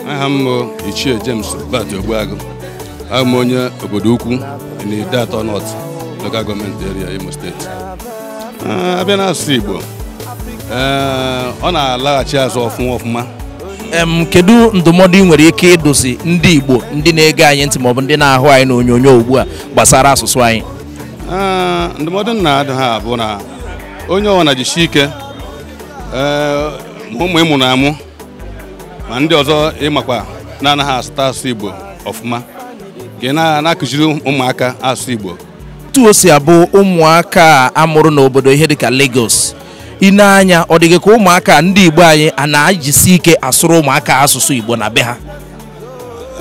aha m bụ ichie James Bat Ogbuagụ abụ m onye Obodoukwu n'Ideato North local government area Imo steeti ah, a bịa n'asụsụ Igbo eh, ọ na-alaghachi azụ ọfụma ọfụma kedu ndụmọdụ ị nwere ike ịdụzi ndị Igbo ndị na-ege anyị ntị maọbụ ndị na-ahụ anyị n'onyonyo ugbu a gbasara asụsụ anyị ndụmọdụ m na-adụ ha bụ na onye ọbụla jisie ike ma ụmụ ị mụrụ amụ ma ndị ọzọ ị makwa na-anaghị asụta asụsụ Igbo ọfụma ka ị na-akụziri ụmụaka asụsụ Igbo otu o si abụ ụmụaka a mụrụ n'obodo ihe dịka Lagos i nee anya ọ dịghị ka ụmụaka ndị Igbo anyị a na-ajisi ike asụrụ ụmụaka asụsụ Igbo na be ha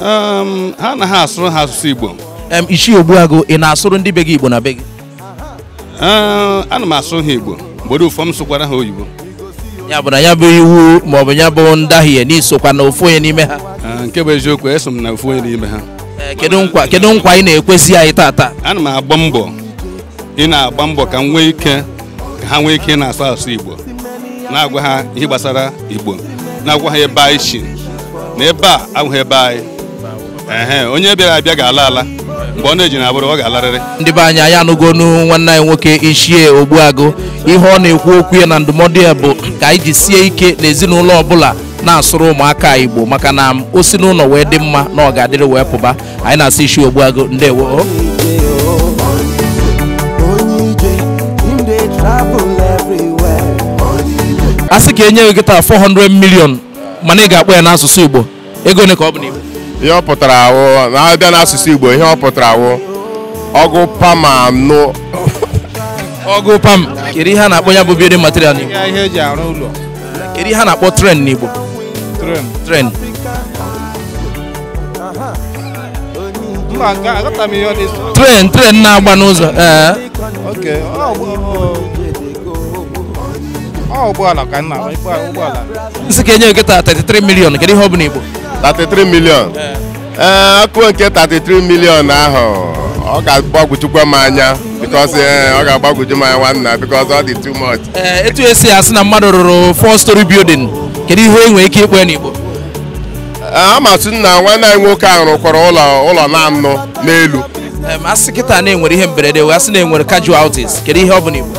Um, ha anaha asụrụ ha asụsụ Igbo Em, Ichie Ogbuagụ ị na-asụrụ ndị be gị Igbo na be gị Ee, ana m asụrụ ha Igbo mgbe ụfọdụ m sụkwara ha oyibo ya bụ na ya bụ iwu maọbụ ya bụ ndahie na i sokwa na ofu onye n'ime ha Ee, nke bụ eziokwu eso m na ofu onye n'ime ha Ee, kedu nkwa kedu nkwa ị na-ekwezi anyị tata ana m agba mbọ ị na-agba mbọ ka m nwee ike ka ha nwee ike na-asụ asụsụ Igbo na-agwa ha ihe gbasara Igbo na-agwa ha ebe anyị si na ebe a abụghị ebe anyị ehe onye bịara abịa ga-ala ala mgbe ọ na-eji na-abụrụ ọ ga-alarịrị ndị be anyị anyị anụgonu nwanne anyị nwoke Ichie Ogbuagụ ihe ọ na-ekwu okwu ya na ndụmọdụ ya bụ ka anyị jisie ike n'ezinụlọ ọbụla na-asụrụ ụmụaka igbo maka na o si n'ụlọ wee dị mma na ọ ga-adịrị wee pụba anyị na-asị Ichie Ogbuagụ ndewo a sị ka e nye gị kịta 400 million mana ị ga-akpọ ya n'asụsụ igbo ego ole ka ọ bụ n'igbo ihe ọ pụtara wụ na a bịa n'asụsụ igbo ihe ọ pụtara wụ ọgụ pama nụ ọgụ pam kedu ihe a na-akpọ ya bụ building material n'igbo ihe e ji arụ ụlọ kedu ihe a na-akpọ train n'igbo train train train train na-agba n'ụzọ ee ụgbọala ka nna ụgbọala m sị ka e nye gị 33 million kedu ihe ọ bụ n'igbo 33 million ee akụ nke 33 million ahụ ọ ga-agbagwojukwa m anya because ee, ọ ga-agbagwoju m anya nwanna because ọ dị too much Ee, etu e si asị na mmadụ rụrụ four story building kedu ihe e nwere ike ịkpọ n'igbo Ee, aga m asị na nwanne anyị nwoke ahụ rụkwara ụlọ ụlọ na-anọ n'elu Em, a sị kịta na e nwere ihe mberede wee sị na e nwere casualties kedu ihe ọ bụ n'igbo